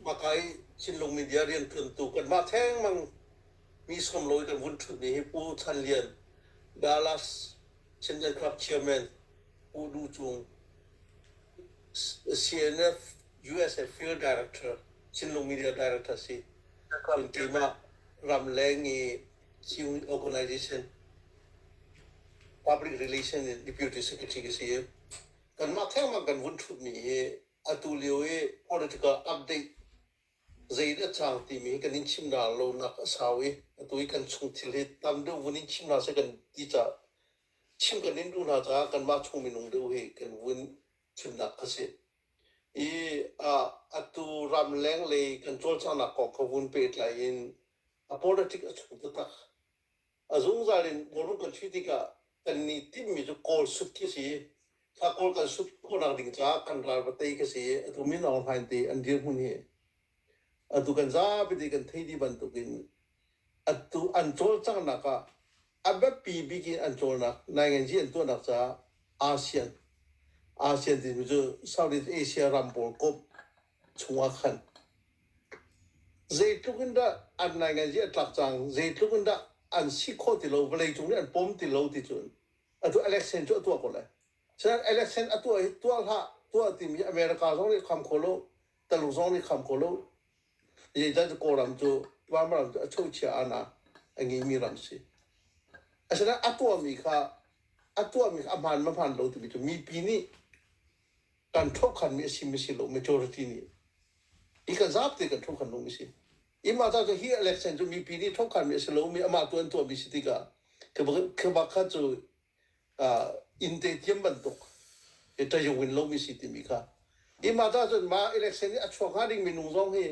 Vakai Chinlung media rian ṭuantu kanmah thengmang mi sawm lo i kan vun ṭhutmi hi Pu Chan Lian, Dallas Chinland Club Chairman, Pu Du Cung, CNF USA Field Director, Chinlung Media Director si. Cun keimah Ramleng i Ciyung Organization Public Relations and Deputy Secretary ka si i kanmah thengmang kan vun ṭhutmi hi atu lio i political update zei in a cang timi hi kan in chimral lonak a sau i atu i kan chung thil hi tam deuh vun in chim hna seh kan ti caah chim kan in duh hna caah kanmah chung minung deuh hi kan vun chimnak a si i atu ramleng lei kan cawlcanghnak kong ka vun pehtlai in a politic a chung taktak A zungzal in Kawlram kan si tikah kannih timhmi cu Kawl sut khi a si i thla Kawl kan sut khawhnak ding caah kan ral va tei khi a si i atu min Aung Hlaing te an dirhmun hi atu kan zapi te kan thei ti bantukin atu an cawlcanghnak ah a biapi bik in an cawlnak Nainganzi an tuahnak caah ASEAN ASEAN timi cu Southeast Asia ram pawl komh chungah khan zeitluk in dah an naingaihzia a tlak cang zeitluk in dah an si kho ti lo vawleicung nih an pawm ti lo ti cun atu election cu a tuah ko lai sir election a tuah tuah hlah tuah timi america zong nih kham kho lo taluk zong nih kham kho lo zeicah cu kawlram cu vanram cu a chochia ana a ngeimi ram si asinain a tuahmi kha a tuahmi kha a hmaan mahmaan lo timi cu mipi nih kan thokhanmi a simi si lo majority nih hi kan zaap te kan thokhan lomi si i mah ta cu hi election cu mipi nih thokhanmi a si lomi amah tu an tuahmi si tikah khabakhat cu innte tiam bantuk tayung in lomi si timi kha hi mah ta cun mah election i a chuak hnga ding minung zong hi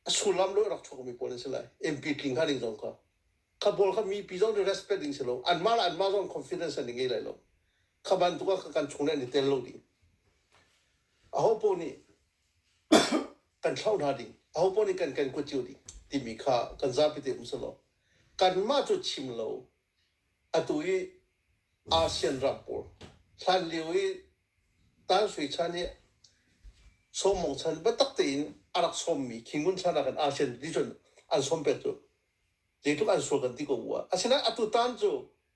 a sullam lo rak chuakmi pawl an si lai mp tling hnga ding zong kha kha pawl kha mipi zong cu respect ding si lo anmah la anmah zong confidence an i ngei lai lo kha bantuk ah kan chung le an i tel lo ding aho paoh nih kan thloh hna ding aho paoh nih kan kan kuat cio ding timi kha kan zapi te um selaw kanmah cu chim lo atu i ASEAN ram pawl hlan lio i Tan Sui Chan hi sawmong chan batak tein a rak sawmmi khingun chan ah kan ASEAN ti cun an sawm pet cu zeitluk an sual kan ti ko ua asinain atu tan cu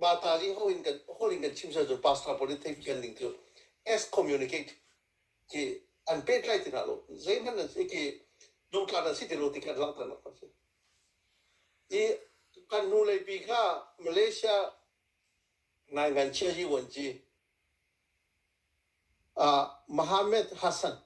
mah ta ding ho in kan hol in kan chim sal cu pastor politics kan ning cu as communicate ki an pet lai tina lo zei man nan si ki dum tla nan si ti lo ti kan lang tan a si i kan nu le pi kha malaysia ngai ngan chia ji wan ji uh, Mohammed Hassan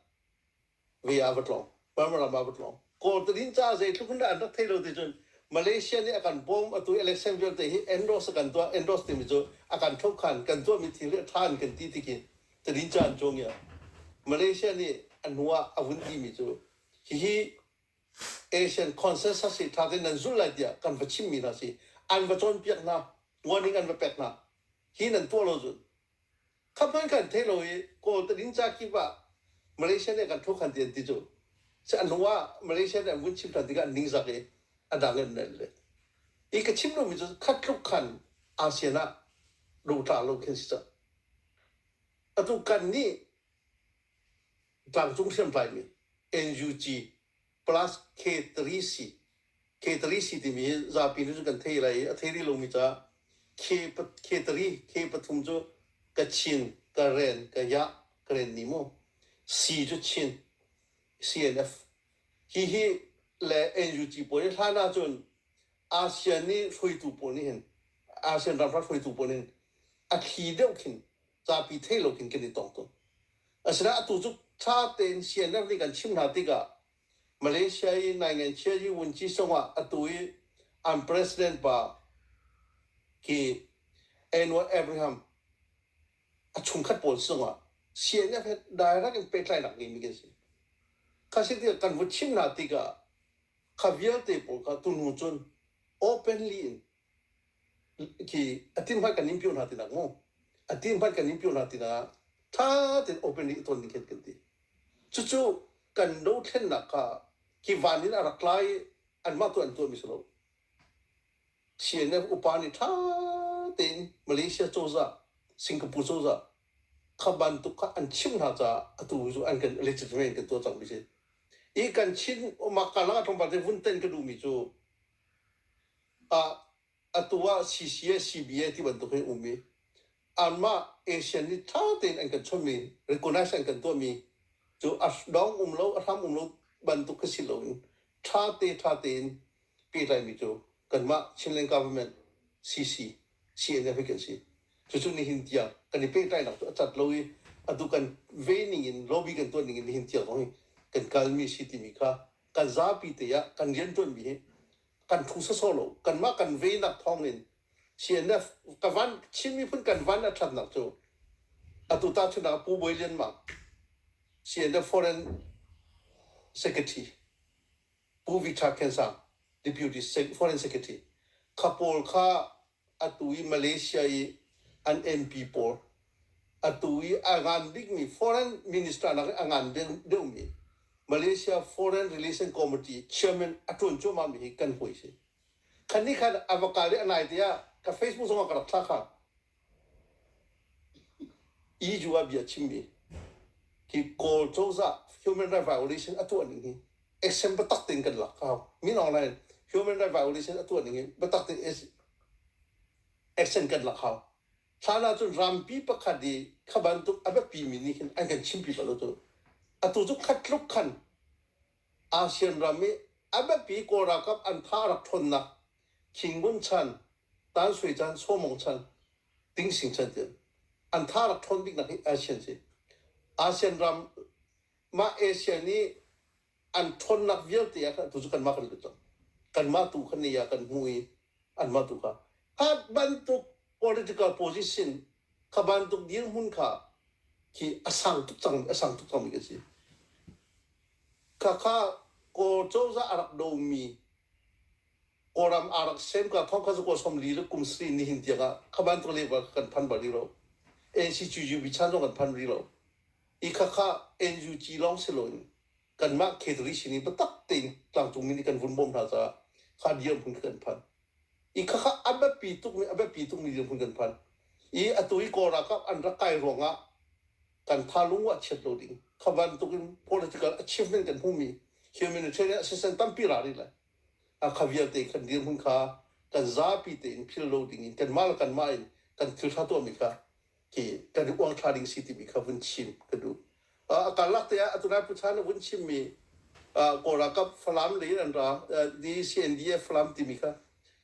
ve ah va tlawng Burma ram ah va tlawng Kawltalin ca zeitluk in an rak thei lo ti cun Malaysia nih a kan bawm atu election vialte hi endorse kan tuah endorse timi cu a kan thlop khan kan tuahmi thil hi a ṭha an kan ti tikin talin ca an cuang ia Malaysia nih a hnu ah a vun timi cu hihi Asian consensus hi ṭha tein nan zulh lai tiah kan va chimmi hna si. An va cawnpiak hna, warning an va pek hna. Hi nan tuah lo cun. Kha hmanh kan thei lo i Kawl tading ca kip ah Malaysia nih kan thukhan ti an ti cu. Sih a hnu ah Malaysia nih an vun chim ṭhan tikah an ningzak i a dang in an el leh. Hi ka chim lomi cu khat tluk khan ASEAN ah luhṭah lo khi an si cang. Atu kan nih Tlangcung hriamtlaimi, NUG, plus K3C, K3C timi hi zapi nu cu kan thei lai i a thei rih lomi caah K3, K pathum cu ka chin, ka ren, ka yah, ka ren ni maw? C cu chin, CNF. Hihi le NUG pawl hi hlan ahcun ASEAN i hruaitu pawl nih hin, ASEAN ramhra hruaitu pawl nih hin a thli deuh khin zapi theih loin kan i tong tuk. Asinain atu cu ṭha tein CNF nih kan chimh hna tikah Malaysia i naingaihchia Yu Wun Ci Song ah atu i an president pa ki Anwar Abraham a chungkhat pawl sungah CNF he direct in pehtlainak ngeimi kan si. Kha si tikah kan vun chimh hna tikah kha vialte pawl kha tunu cun openly in khi a tin hmanh kan in pio hna tinak mu a tin hmanh kan in pio hna tinah ṭha tein openly i ton ding khin kan ti cucu kan dothlennak kha ki van in a rak lai i anmah tu an tuahmi si lo Chin upa nih ṭha tein Malaysia cozah Singapore cozah kha bantuk kha an chimh hna caah atu cu an kan legitimate kan tuah cangmi si i kan Chin mahka langa thongpal vun ten ka duhmi cu Ah atu ah CCSCB ti bantuk hin um i anmah Asian nih ṭha tein an kan chawnhmi recognize an kan tuahmi cu a dong um lo a hram um lo bantuk khi si loin ṭha te ṭha tein pehtlaimi cu kanmah Chinland Government CC CNF hi kan si. Cucu nihin tiang kan i pehtlainak cu a cat lo i atu kan vei ning in lobby kan tuah ning in nihin tiang zong hi kan kalmi a si timi kha kan zapi te ah kan riantuanmi hi kan phu sawsawh lo kanmah kan veinak thawng in CNF ka van Chin miphun kan van a thatnak cu atu ta chun ah Pu Bawi Lian Mang CNF Foreign Secretary Pu Vik Tha Khen Sang Deputy Foreign Secretary kha pawl kha atu i Malaysia i an MP pawl atu i a ngan bikmi foreign minister nak a ngan deuhmi Malaysia Foreign Relation Committee chairman a tuan cuahmah mi hi kan hui si khan ni khan ava kal ri anai te ah ka facebook zong ah ka rak thla kha iju ah bia chimmi hi kawl cozah human rights violation a tuah ning hi action biatak tein kan lak hau min online human rights violation a tuah ning in biatak tein action kan lak hau hlan ah cun rampi pakhat i kha bantuk a biapi mi nih khin an kan chimpi bal cu atu cu khat tluk khan ASEAN ram i a biapi kawl ralkap an tha a rak ṭhawnnak Khingun chan Tan Sui chan Somong chan Ting Sing chan tiah an tha rak ṭhawn bik nak hi ASEAN si ASEAN ram mah Asia nih an ṭhawnnak vialte ah khan tu cu kanmah kan lut cang kanmah tu kha ni ah kan hmuh i anmah tu kha kha bantuk political position kha bantuk dirhmun kha khi a sang tuk cang a sang tuk cangmi ka si khakha ko cozah a rak domi kawlam aa rak sem ka thong kha ko som li le kum sri ni hin tiang ah kha bantuk level kan phan bal rih lo NCCU bichan zong kan phan rih lo i khakha NUG lawng si loin kanmah catering sin i biatak tein tlangcung mi nih kan vun bawm hna caah kha dirhmun kan phan i khakha a biapi tukmi a biapi tukmi dirhmun kan phan i atu i kawl ralkap an rak kai ruangah kan thalung ah chiat lo ding kha bantukin political achievement kan hmumi humanitarian assistance tampi ra rih lai a kha vialte in kan dirhmun kha kan zapi tein phil lo ding in kanmah le kanmah in kan thil ṭha tuahmi kha hi kan i uang tha ding si timi kha vun chim ka duh a karlak te ah atu lai pu chan vun chim mi kawl ralkap falam lei an ra di CNDF falam timi kha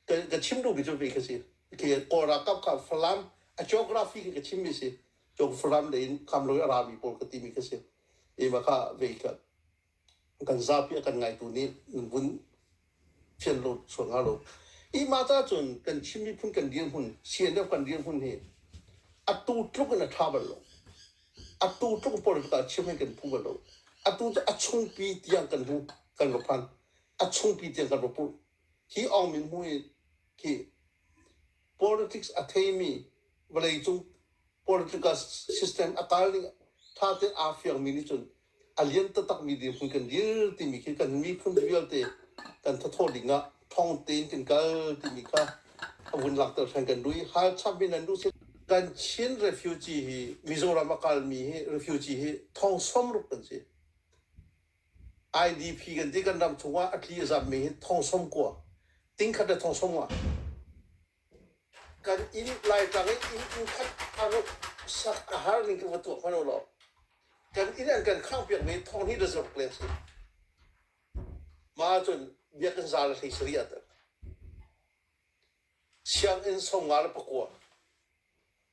ka chim duh mi cu ve kha si ke kawl ralkap kha falam a geography ke ka chim mi si cong falam lei in kam lo a ra mi pawl ka ti mi kha si ima kha ve ka kan zapi a kan ngaitu nih nan vun fian lo sual hnga lo. Hi mata cun kan Chin miphun kan dirhmun CNF kan dirhmun hi atu tluk in a ṭha bal lo. Atu tluk politik ah chiam hin kan phu bal lo. Atu cu a chungpi tiang kan hmu kan va phan. A chungpi tiang kan va purh. Hi Aung Min Hmu hi khi politics a theimi vawleicung political system a kal ding ṭha tein aa fiangmi nih cun a lian taktakmi dirhmun kan dir timi khi kan miphun vialte kan thathaw ding ah thong tein kan kal timi kha a vun langhter hren kan duh i hal chap in an duh si kan Chin refugee hi Mizoram a kalmi hi refugee hi thong som ruk kan si IDP kan ti kan ram chung ah a tli a zammi hi thong som kua tingkhat le thong som nga Kan inn Laitlang i inn khat a ruk sak a har ning kan va tuah hmanh ulaw kan inn an kan khangh piakmi thawngni le zaruk leng si. Mah ahcun biakinn zal hlei sari ah tak. Sianginn som nga le pakua.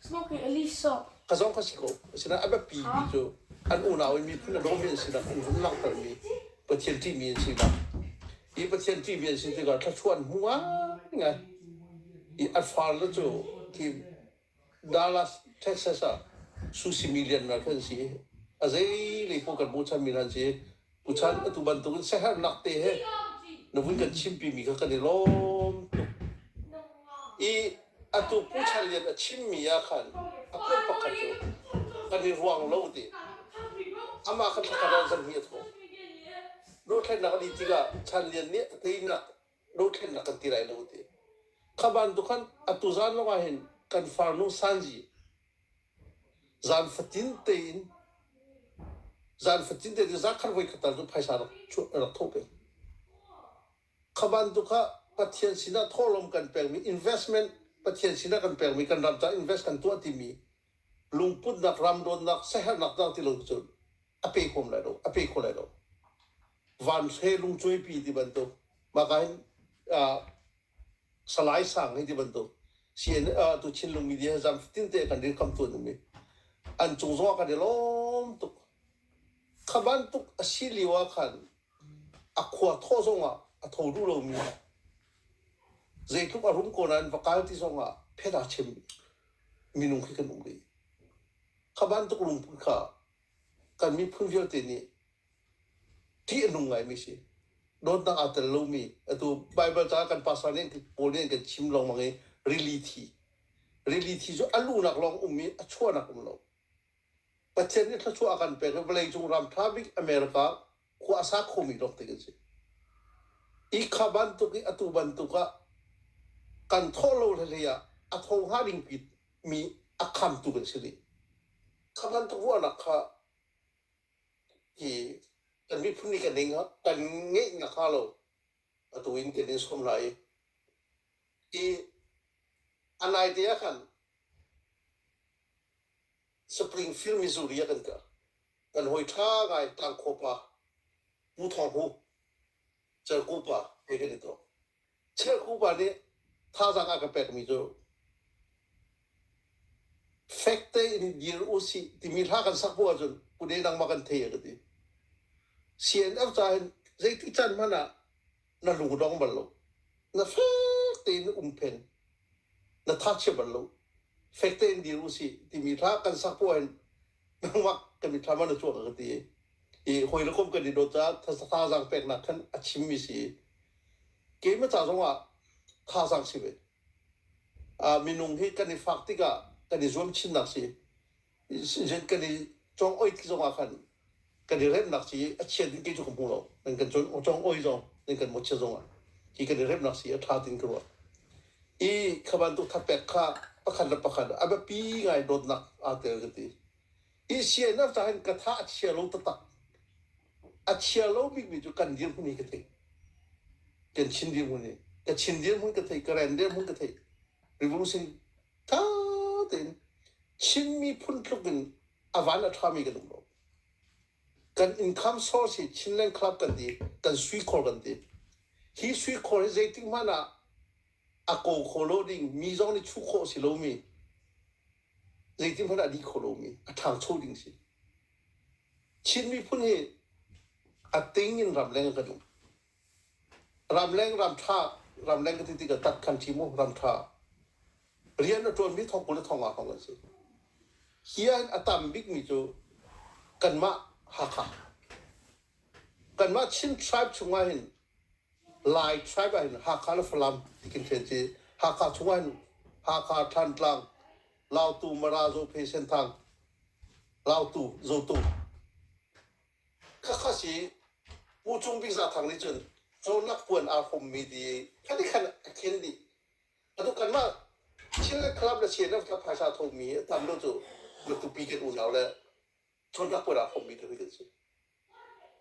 Smoke hi a li sawk. A zong kha si ko. Asinain a biapi mi cu an unau i miphun a dawmi an si nak an langhter mi Pathian ṭihmi an si nak. Hi Pathian ṭihmi an si tikah thluachuah an hmu ngaingai. I a farle cu hi Dallas, Texas ah su simi liannak an si. A zei lei paoh kan hmuh chan mi hna an si. Tuchan atu bantukin siaherhnak te he na vun kan chimpimi kha kan i lawm tuk i atu Pu Char Lian a chimmi ah khan a kum pakhat cu kan i ruang lo te amah kha thla khat ah zam hi a thawh. Dohthlennak a dih tikah Chan Lian nih a teinak dothlen na kan ti lai lo ti kha bantuk khan atu zan lawngah hin kan farnu sanji zan fatin tein zan fatin te zan khan voi khatar cu phaisa rak rak tho pe kha bantuk kha pathian sinah thawhlawm kan pekmi investment pathian sinah kan pekmi kan ram ca invest kan tuah timi lungputnak ram dawtnak siaherhnak dang ti lo cun a pe huam lai lo a pe kho lai lo van hre lungcuaipi ti bantuk maka hin uh, salai sang hi ti bantuk sien uh, tu chin lung media zam fatin te kan din kam tu numi an chung zong kan lom tuk kha bantuk a si liwa khan a khua thaw zongah a tho duh lomi zeitluk a run kawn ah va kal ti zongah phet ah chim minung khi kan um rih kha bantuk lungput kha kan miphun vialte nih ṭih a nung ngaimi si dawtnak aa tel lomi atu bible ca kan pastor nih paul nih kan chim lengmang i rili thi rili thi cu a luhnak lawng um i a chuahnak um lo Pathian nih thluachuah a kan pek hi vawleicung ram ṭha bik America khua a sa khomi rawk tik an si. Hi kha bantuk i atu bantuk ah kan thawh lo le hlei ah a tho hnga dingpi mi a khamtu kan si rih. Kha bantuk ruahnak kha hi kan miphun nih kan ngeih kan ngeih nakhnga lo atu in kan in sawm hna i hi a naite ah khan Springfield, Missouri ah kan kal. Kan hawi ṭha ngai Tangkhaw pa, Pu Thawng Hu, Cerku pa, hei kan i tuk. Cerku pa nih thazaang a ka pekmi cu fek tein i dir u sih timi hla kan sak hnu ahcun kune nangmah kan thei a ka ti. CNF caah hin zeitin can hmanh ah na lu dong bal lo na fek tein um phen na tha chia bal lo fek tein dir u si timi tha kan sak po hin nangmah kan mi tha ma na chuak ka ti i hoi le kom kan i dot ca tha zang pek nak khan a chim mi si ke ma cha zong ah tha sang si ve a minung hi kan i fak tikah kan i zuam chin nak si Zet kan i cawng oit zong ah khan kan i remnak ci a chia ding kei cu ka hmu lo. Nan kan cawng oi zong nan kan mawchia zong ah hi kan i remnak ci a ṭha ding ka ruah. I kha bantuk thapek kha pakhat le pakhat a biapi ngai dawtnak aa tel ka ti. Hi CNF tah hin ka tha a chia lo taktak. A chia lo bikmi cu kan dirhmun hi ka theih. Kan Chin dirhmun hi. Ka Chin dirhmun ka theih, ka Ren dirhmun ka theih. Revolution ṭha tein Chin miphun tluk in a van a ṭhami kan um lo. Kan income source hi Chinland Club kan ti, kan suikhor kan ti. Hi suikhor hi zeitik hmanh ah a ko kho lo ding mi zong nih chuh khawh si lomi zeitin hmanh ah dih kho lomi a ṭhangcho ding si. Chin miphun hi a ting in ramleng kan um. Ramleng ramṭha, ramleng ka ti tikah tat kan ṭi mu, ramṭha. Rian a ṭuanmi thong kul le thong ah hong an si. Hi ah hin a tam bikmi cu kanmah Hakha. Kanmah Chin tribe chungah hin Lai tribe ah hin Hakha le Falam ti kan ṭhen ci. Hakha chungah hin Hakha, Thantlang, Lautu, Mara, Zophei, Senthang, Lautu, Zotu. Khakha si Pu Cung Bik Za Thang nih cun Cawnak puan aa hrawmmi ti khadik khan a khel dih. Atu kanmah Chin Club le CNF kha phaisa thomi a tam lo cu na kupi kan unau le Cawnak puan aa hrawmmi te kan si.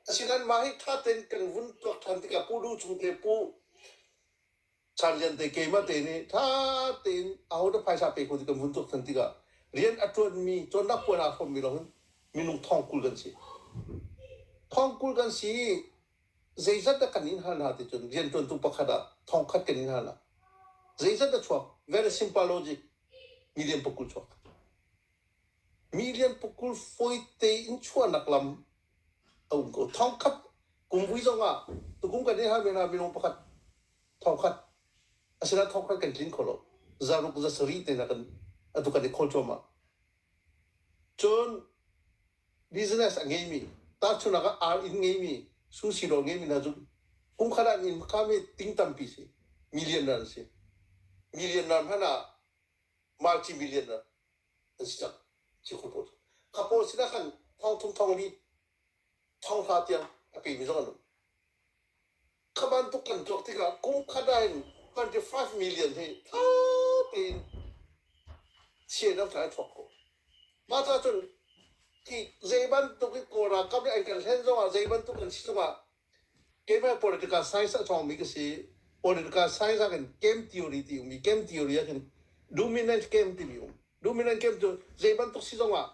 Asinain mah hi ṭha tein kan vun tuak ṭhan tikah Pu Lu Cung te Pu Char Lian te keimah te nih tha tein ahodah phaisa pek ko ti kan vun tuak than tikah rian a tuanmi cawnnak puan aa hrawmmi lawng hin minung thong kul kan si. Thong kul kan si zeizat dah kan in hal hna ti cun riantuantu pakhat ah thong khat kan in hal hna. Zeizat dah chuak? Very simple logic. Million pukul chuak. Million pukul fawi tein chuahnak lam A um ko. Thongkhat kum vui zong ah tukum kan i hal men ah minung pakhat thongkhat asinain thongkhat kan tlin kho lo zaruk zasarih te nak in atu kan i khawl cuahmah cun business a ngeimi tahchunnak ah ar inn ngeimi susilo ngeimi hna cu kumkhat an inn kha me ting tampi si million ran si million ran hmanh ah marchi million ran Kapur sinah khan thongthum thonglimi thonghla tiang a pemi zong an um. Kha bantuk kan tuak tikah kum khada in 25 million hi tha tein chian an kai thok ko. Mah cah cun hi zei bantuk i kawlralkap nih an kan hlen zongah zei bantuk kan si zongah Keimah political science a ṭhawngmi ka si. Political science ah khin game theory ti um i game theory ah khin dominant game timi um. Dominant game cu zei bantuk si zongah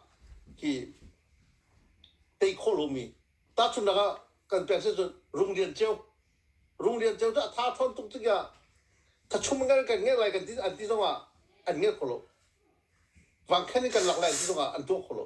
hi tei khawh lomi. Tahchunhnak ah kan pek si cun Rung Lian Ceu. Rung Lian Ceu cu a tha ṭhawn tuk tik ah thachum ngan kan ngerh lai kan ti an ti zongah an ngerh kho lo. Vang khan in kan lak lai an ti zongah an tuah kho lo.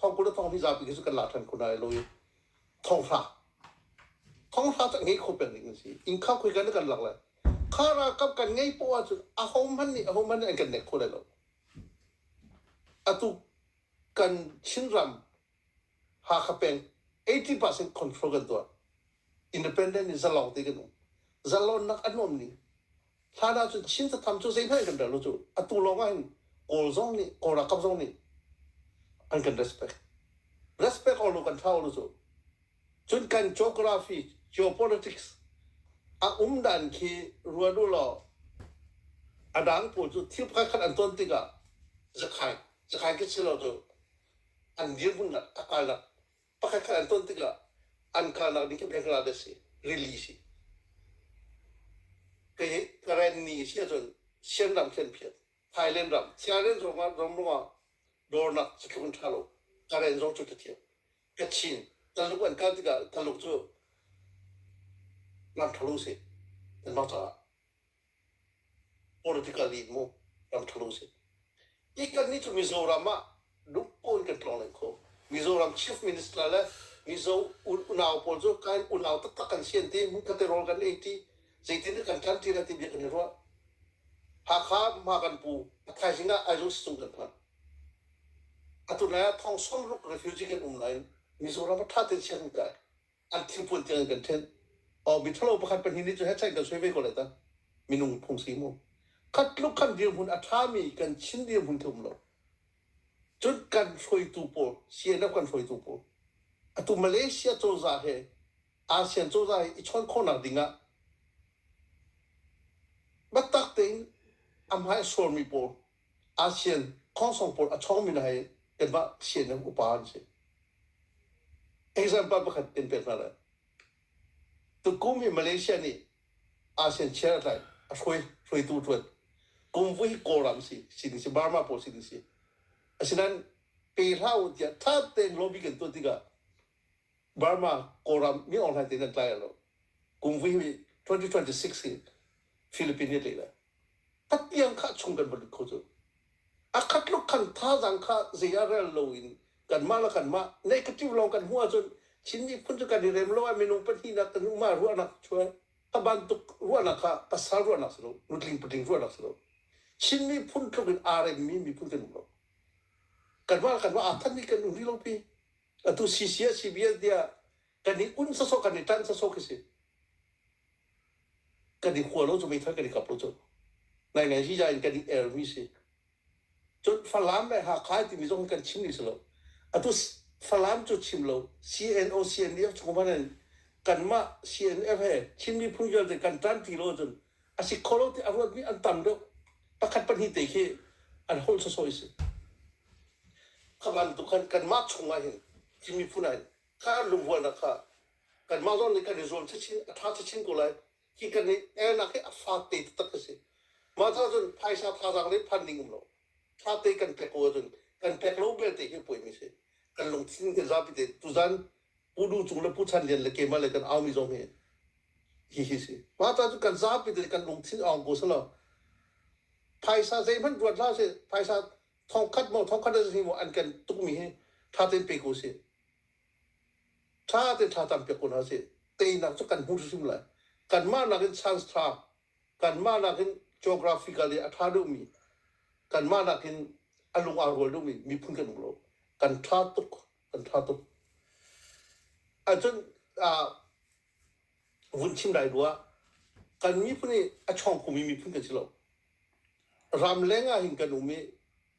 thongkul le thong hi zapi hi cu kan lak ṭhan khun ai lo i thonghra thonghra cu ngei kho peng ding an si innkhang khoi kan kan lak lai kha ralkap kan ngei poah cu aho hmanh nih aho hmanh nih an kan nek kho lai lo atu kan chinram hakha peng 80% control kan tuah independent in zalong te kan um zalonnak a nuam ning Hlan ahcun Chin satham cu zeihmanh an kan rel lo cu atu lawng ah hin Kawl zong nih Kawl ralkap zong nih an kan respect respect all lu kan tha all lu cu cun kan geography geopolitics a um dan khi ruan u law a dang pawl cu thil pakhat khat an ton tikah zakhan zakhan ke si lo cu an dirhmun nak a kalnak pakhatkhat an ton tikah an kalnak ding khi hnga dek si rili si kei karen ni si ahcun sianram khen phiat thailand ram sianen zong ah rom rungah dornak cithlung tha lo karen zong cu tathiam kachin taluk an kal tikah taluk cu ngan tholu si an ma caah Politically hmu ramthlo si. I kan nih cu Mizoram ah lungpaw in kan tlawng len kho. Mizoram chief minister le Mizo unau pawl cu kain unau taktak kan si an ti. Mukaterol kan ei ti. Zeitin kan ṭan ti le ti bia kan i ruah. Hakha hma kan pu thaizing ah Aizawl stung kan phan. Atu lai ah thong som ruk refugee kan um nain Mizoram ah ṭha tein sian kan kai. an thilpuan tiang in kan thenh. Oh, mithalo pakhat pahnih nih cu headshot kan soi ve ko lai ta. Minung phung si mu. Khat tluk kan dirhmun a ṭhami kan Chin dirhmun khi um lo. Cun kan hruaitu pawl, CNF kan hruaitu pawl, atu Malaysia cozah he, ASEAN cozah he i chawn khawhnak ding ah biatak tein a hmai a suarmi pawl ASEAN khongsong pawl a chawngmi hna hi kanmah ASEAN ram upa an si. Example pakhat in pek hna lai. Tukum hi Malaysia nih ASEAN chair tlai a hruai hruaitu ṭuan. Kum vu hi Kawlram si sining si Burma pawl sining si. Asinain pe hlah u tiah ṭha tein lobby kan tuah tikah Burma Kawlram mi online te nan tlai lo. Kum vui hi 2026 hi Philippine nih a tlaih lai. Patiang khah chung kan va lut kho cu. A khat tluk khan thazaang kha zei ah rel lo in kanmah le kanmah negative lawng kan hmuh ahcun Chin miphun cu kan i rem lo ah minung pahnihnak kan um ah ruahnak chuah a bantuk ruahnak kha pasal ruahnak si lo nutling putling ruahnak si lo Chin miphun tluk in aa remmi miphun kan um lo kanmah le kanmah aa thanmi kan um rih lo pi atu CCA CBL tiah kan i un sawsawh kan i tan sawsawh khi si kan i khua lo cu meithal kan i kap lo cu nai ngai si in kan i ermi si cun falam le hakha timi zong kan chim ni si lo atu falam cu chim lo CNO CNDF chungman in kanmah CNF he Chin miphun vialte kan tan ti lo cun a si kho lo ti a ruatmi an tam deuh. Pakhat pahnih te khi an holh sawsawh i si. Kha bantuk khan kanmah chungah hin timi phun ah hin kha an lungrualnak kha kanmah zong nih kan i zuam chinchin a ṭha chinchin ko lai hi kan i elnak hi a fak te taktak a si. Mah caah cun phaisa thazaang le phan ding um lo. thate kan pek ko ahcun kan pek lo belte hi puai mi si kan lungthin hi zapi te tuzan pu du cung le pu chan lian le keima le kan au mi zong hi hi hi si mah ta cu kan zapi te kan lungthin ong ko salo phaisa zeihmanh ruat hlah si phaisa thongkhat mo thongkhat si mo an kan tuk mi hi tha ten pe ko si tha ten tha tam pe ko na si teinak cu kan hmu hrim lai kan mah nakin chance tha kanmah nakin geographical i a ṭha deuhmi kanmah nakin a lung aa rual deuhmi miphun kan um lo kan ṭha tuk kan ṭha tuk ahcun vun chim lai rua kan miphun hi a chawng kumi miphun kan si lo ramleng ah hin kan um i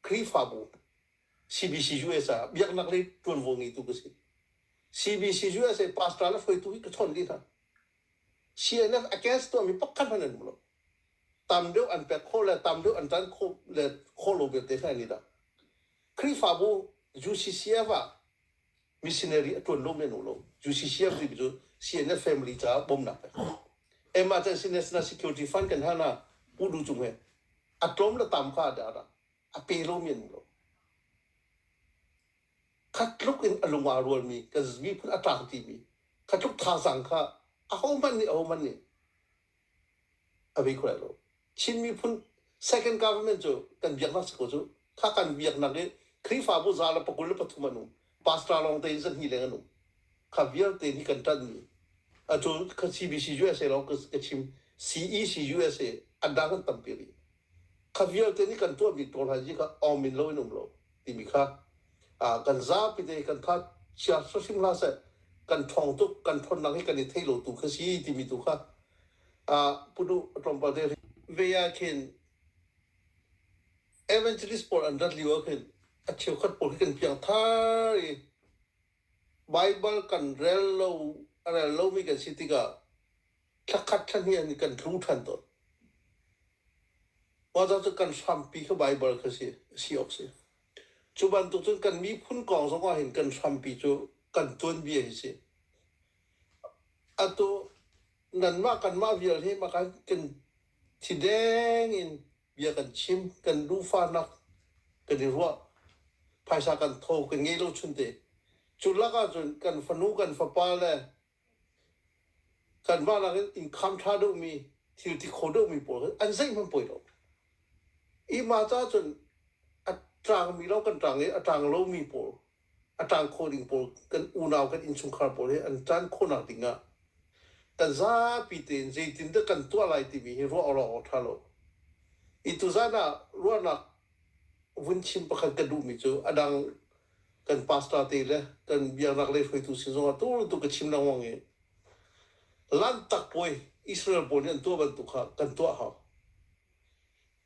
khrihfabu cbc us ah biaknak lei ṭuanvo ngeitu ka si cbc us pastor le hruaitu hi ka chawn dih hna Sinak against tuahmi pakhat hmanh an um lo. Tam deuh an pek kho le tam deuh an ṭan kho le kho lo vialte hna ni dah. Khrihfabu UCCF ah missionary a ṭuan lo men lo. UCCF ti cu CNF family caah bawmnak pek. Emergency National Security Fund kan hana pu du cung he a tlawm le tam kha ada ada a pe lo men lo. kha tluk in a lung aa rualmi kan miphun a ṭang timi kha tluk thazaang kha ahohmanh nih ahohmanh nih a vei kho lai lo. Chin miphun second government cu kan biaknak si ko cu. Kha kan biaknak i Khrihfabu za le pakul le pathum an um. Pastor lawng tein zan hnih leng an um. Kha vialte nih kan ṭanhmi a cun ka CBC USA lawng ka chim CEC USA a dang an tampi rih. kha vialte nih kan tuahmi pawl hna hi kha awm in loin um lo timi kha kan zapite kan tha chia hrim hlah seh kan thong tuk kan thonnak hi kan i thei lo tu kha si timi tu kha punu tlawmpal te ve ah khin evangelist pawl an rat lio ah khin a cheukhat pawl hi kan piangthar i bible kan rel lo a rel lomi kan si tikah thla khat thla hnih an i kan tlu ṭhan tawn. Mother cu kan hrampi khi Baibal kha si si awk si. Cu bantuk cun kan miphun kong zongah hin kan hrampi cu kan tuanbia hi si. Atu nanmah kanmah vial hi maka kan thi deng in bia kan chim, kan lufanak kan i ruah, phaisa kan tho kan ngei lo chun te. Cu lakah cun kan fanu, kan fapa le Kanmah nakin innkham ṭha deuhmi, thil ti kho deuhmi pawl kha an zeih hmanh poi lo. Ihmah caah cun a ṭangmi lo kan ṭang i a ṭang lomi pawl, a ṭang kho ding pawl, kan unau, kan innchungkhar pawl hi an ṭan khawhnak dingah kan zapi tein zeitindah kan tuah lai timi hi ruah awk ṭha lo. Hi tuzan ah ruahnak vun chim pakhat ka duhmi cu a dang kan pastor te le kan biaknak le hruaitu sin zongah tu tu ka chim lengmang i lantak puai Israel pawl nih an tuah bantuk kha kan tuah hau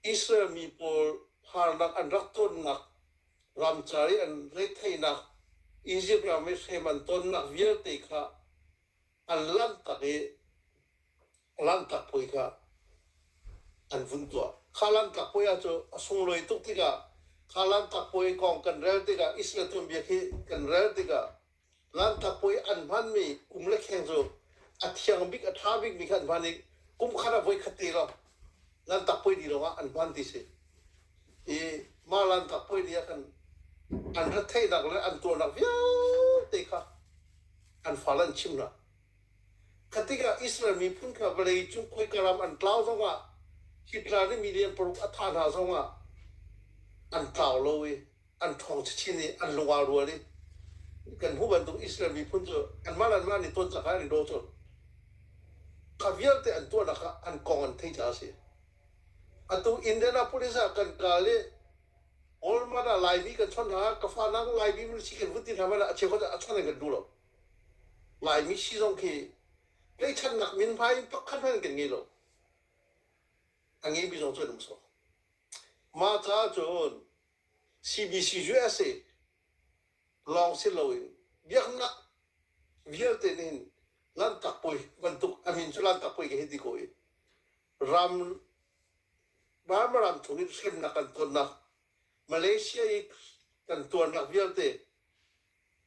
Israel mi pawl harnak an rak tonnak ramcar i an retheihnak Egypt ram i hrem an tonnak vialte kha an lantak i Lanhtak puai kha an vun tuah. Kha Lanhtak puai ah cu a sunglawi tuk tikah kha Lanhtak puai kong kan rel tikah Israel tuanbia khi kan rel tikah Lanhtak puai an hmanmi kum le kheng cu a thiang bik a ṭha bikmi kha an hman i kum khat ah voi khat te lawng Lanhtak puai ni lawngah an hman ti si. I mah Lanhtak puai ni ah kan an retheihnak le an tuahnak vialte kha an fal an chim hna. Kha tikah Israel miphun kha vawlei cung khoika ram an tlau zongah hi tla nih mi lian paruk a thah hna zongah an tlau lo i an ṭhawng chinchin i an lungau rual i kan hmuh bantuk Israel miphun cu anmah le anmah nih ton cak in an daw cun kha vialte an tuahnak ah an kong an theih caah a si. Atu Indianapolis ah kan kal i Walmart ah Laimi kan chawnh hna ka fa nang Laimi min si kan vun ti hna hmanh ah a cheukhat a chawnh an kan duh lo. Laimi si zong khi tlaihchannak min hmai pakhat hmanh kan ngei lo. A ngei mi zong cu an um sawh. Mah caah cun CBC USA lawng si loin biaknak vialte nih hin Lanhtak Puai bantuk amin cu Lanhtak Puai ka hi ti ko i ram Ramaram chung in hremnak kan tuannak Malaysia i kan tuarnak vialte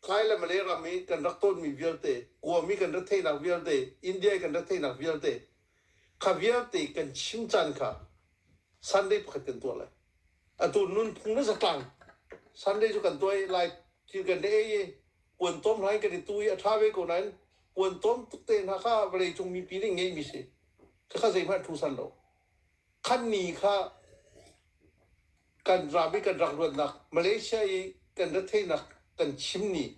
Thai le Malay ram i kan rak tonmi vialte, Kawm i kan rat theihnak vialte, India i kan rat theihnak vialte, kha vialte kan chim caan kha Sunday pakhat kan tuah lai. Atu nunphung le zatlang Sunday cu kan tuai lai ti kan le ei i puan tom hna in kan i tu i a ṭha ve ko nain puan tom tuk te hna kha vawleicung mipi nih ngeihmi si. Khakha zeihmanh a ṭhu san lo. Khan ni kha kan ram i kan rak ruatnak Malaysia i kan retheihnak kan chim ni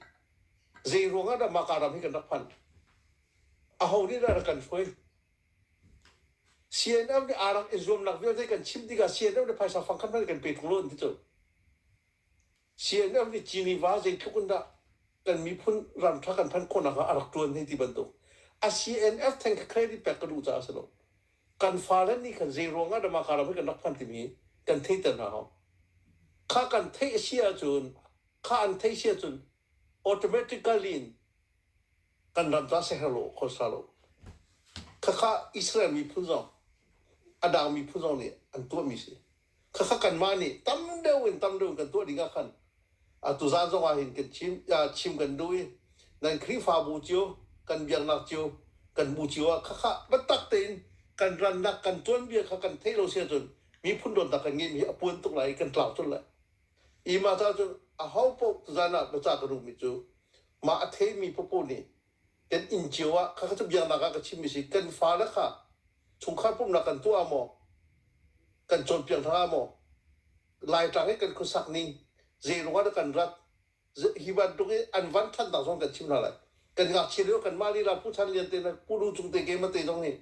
zeiruang ah dah maka ram hi kan rak phan aho nih dah rak kan hruai CNF nih aa rak i zuamnak vialte kan chimh tikah CNF le phaisa fang khat hmanh kan pe tuk lo an ti cu CNN nih Geneva zeitluk in dah kan miphun ram ṭha kan phanh khawh nakhnga a rak ṭuan hei ti bantuk. A CNF theng kha credit pek ka duh caah a si lo. Kan fale nih khan zeiruang ah Damaka ram hi kan rak hman timi hi kan theihter hna hau. Kha kan theih a si ahcun, kha an theih a si ahcun automatically in kan ram caah siaherh lo kho hra lo. Khakha Israel miphun zong, a dang miphun zong nih an tuahmi si. khakha kanmah nih tam deuh in tam deuh in kan tuah ding ah khan atu zan zong ah hin kan chim chim kan duh i nan khrihfabu cio kan biaknak cio kan hmu cio ah khakha biatak tein kan rannak kan tuanbia kha kan theih lo se cun miphun dawtnak kan ngeih mi a puan tuk lai i kan tlau tul lai i mah cah cun a ho paoh zan ah biacah ka duhmi cu mah a thei mi paoh nih kan inn cio ah kha cu biaknak ah ka chimmi si kan fale kha chungkhar pumhnak kan tuah ah maw kan cawnpiak hna ah maw laitlang i kan khuasak ning zeiruangah dah kan rat hi bantuk i an van ṭhannak zong kan chim hna lai kan ngakchia lio kan mah lila pu chan lian te le pu lu cung te ke ma te zong nih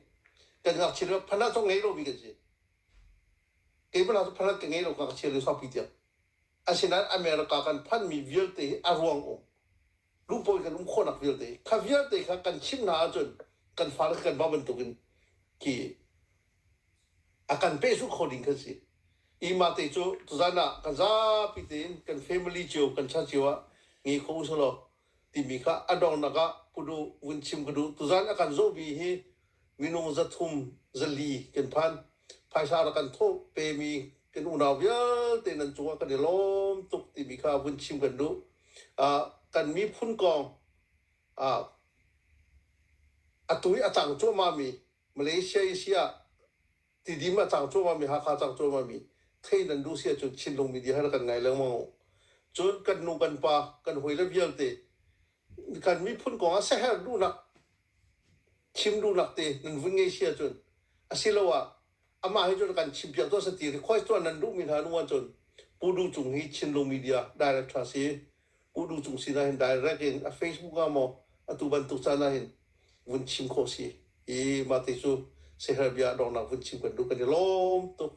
kan ngakchia lio phanat zong ngei lo mi kan si keimah hna cu phanat ka ngei lo ngakchia lio saupi tiang Asinain America kan phanhmi vialte hi a ruang um, luhpawi kan um khawhnak vialte hi, kha vialte kha kan chimh hna ahcun kan fale kan va bantukin ki a kan pehzulh kho ding kan si. I mate cu tuzan ah kan zapi tein kan family cio kan chan cio ah ngi kho usalaw timi kha a donghnak ah kudu vun chim ka duh. Tuzan a kan zawhmi hi minung zathum zali kan phan. Phaisa rak kan thawh pemi kan unau vialte nan cungah kan i lawm tuk timi kha vun chim kan duh. Uh, kan miphun kong uh, atu i a cang cuahmahmi Malaysia i si ah Tidim a cang cuahmahmi Hakha cang cuahmahmi thei nan duh si ahcun Chinlung media he rak kan ngai lengmang. Cun kan nu kan pa kan hawile vialte kan miphun kong ah siaherh duhnak chim duhnak te nan vun ngei si ahcun asiloah amah he cun kan chimpiak tuah sa ti request tuah nan duhmi hna nu ahcun Pu Du Cung hi Chinlung media director a si Kudu Cung sin ahhin direct in a Facebook ah maw atu bantuk caan ahhin vun chim khawh si i mah ti cu seher bia donghnak vun chim kan duh kan i lawm tuk.